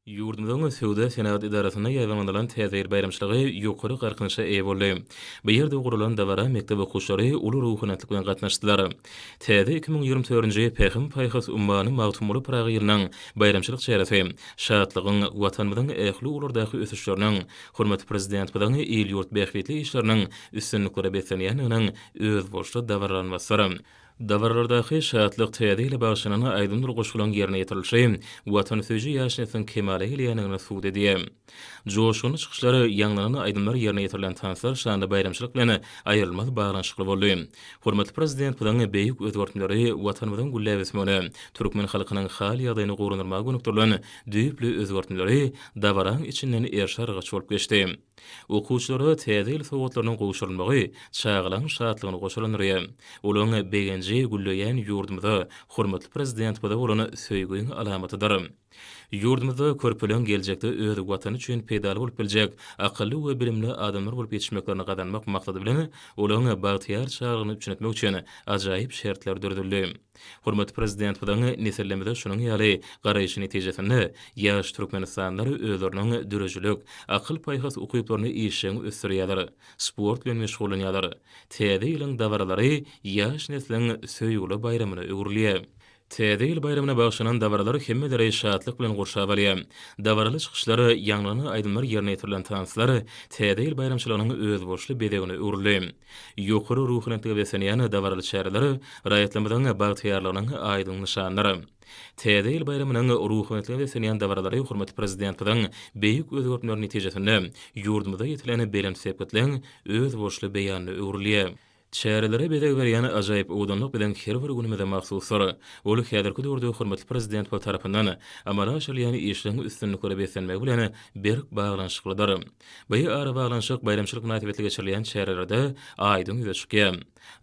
Ýurdumyzyň Söwda-senagat edarasynda ýaýbaňlanylan Täze ýyl baýramçylygy ýokary galkynyşa eýe boldy. Bu ýerde guralan dabara mekdep okuwçylary uly ruhanyýetlik bilen gatnaşdylar. Täze iki müň ýigrimi törünji Pähim-paýhas ummany Magtymguly Pyragy ýylynyň baýramçylyk çäresi şatlygyň, Watanymyzyň ähli ugurlardaky ösüşleriniň, hormatly Prezidentimiziň il-ýurt bähbitli işleriniň üstünliklere beslenýändiginiň özboluşly dabaralanmasydyr. Dabaralardaky Şatlyk täze ýyla bagyşlanan aýdymdyr-goşgularyň ýerine ýetirilişi watansöýüji ýaşnetiniň kemala gelýändigini subut edýär. Joşgunly çykyşlar, ýaňlanan aýdymlar, ýerine ýetirilen tanslar şanly baýramçylyk bilen aýrylmaz baglanyşykly boldy. Hormatly Prezidentimiziň beýik özgertmeleri Watanymyzyň gülläp ösmegine, türkmen halkynyň hal-ýagdaýyny gowulandyrmaga gönükdirilen düýpli özgertmeleri dabaraň içinden erşa-argaç bolup geçdi. Okuwçylara Täze ýyl sowgatlarynyň gowşurylmagy çagalaryň şatlygyny goşalandyrýar. Olaryň begenji gülleýän ýurdumyza, hormatly Prezidentimize bolan söýgiň alamatydyr. Ýurdumyzda körpeleriň geljekde öz Watany üçin peýdaly bolup biljek akylly we bilimli adamlar bolup ýetişmeklerini gazanmak maksady bilen, olaryň bagtyýar çagalygyny üpjün etmek üçin ajaýyp şertler döredildi. Hormatly Prezidentimiziň nesillerimize şunuň ýaly garaýşy netijesinde, ýaş türkmenistanlylar özleriniň döredijilik, akyl-paýhas ukyplaryny işjeň ösdürýärler, sport bilen meşgullanýarlar. Täze ýylyň dabaralary ýaş nesliň söýgüli baýramyna öwrülýär. Täze ýyl baýramyna bagyşlanan dabaralar hemmeleri şatlyk bilen gurşap alýar. Dabaraly çykyşlar, ýaňlanan aýdymlar ýerine ýetirilen tanslar Täze ýyl baýramçylygynyň özboluşly bezegine öwrüldi. Ýokary ruhubelentlige beslenýän dabaraly çäreler raýatlarymyzyň bagtyýarlygynyň aýdyň nyşanydyr. Täze ýyl baýramynyň ruhubelentlige beslenýän dabaralary hormatly Prezidentimiziň beýik özgertmeleri netijesinde ýurdumyzda ýetilen belent sepgitleň özboluşly beýanyna öwrülýär. Çärelere bezeg berýän ajaýyp owadanlyk biziň her bir günümize mahsusdyr. Ol häzirki döwürde hormatly Prezidentimiz tarapyndan amala aşyrylýan işleriň üstünliklere beslenmegi bilen berk baglanyşyklydyr. Bu arabaglanyşyk baýramçylyk mynasybetli geçirilýän çärelerde aýdyň ýüze çykýar.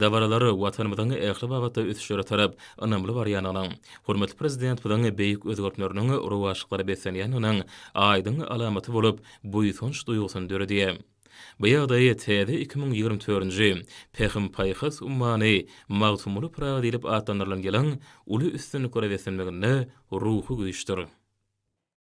Dabaralar Watanymyzyň ähli babatda ösüşlere tarap ynamly barýandygynyň, hormatly Prezidentimiziň beýik özgertmeleriniň rowaçlyklara beslenýändiginiň aýdyň alamaty bolup, buýsanç duýgusyny döredýär. Bu ýagdaý täze iki müň ýigrimi törünji Pähim-paýhas ummany Magtymguly Pyragy diýlip atlandyrylan ýylyň uly üstünliklere beslenmeginde ruhy güýçdir.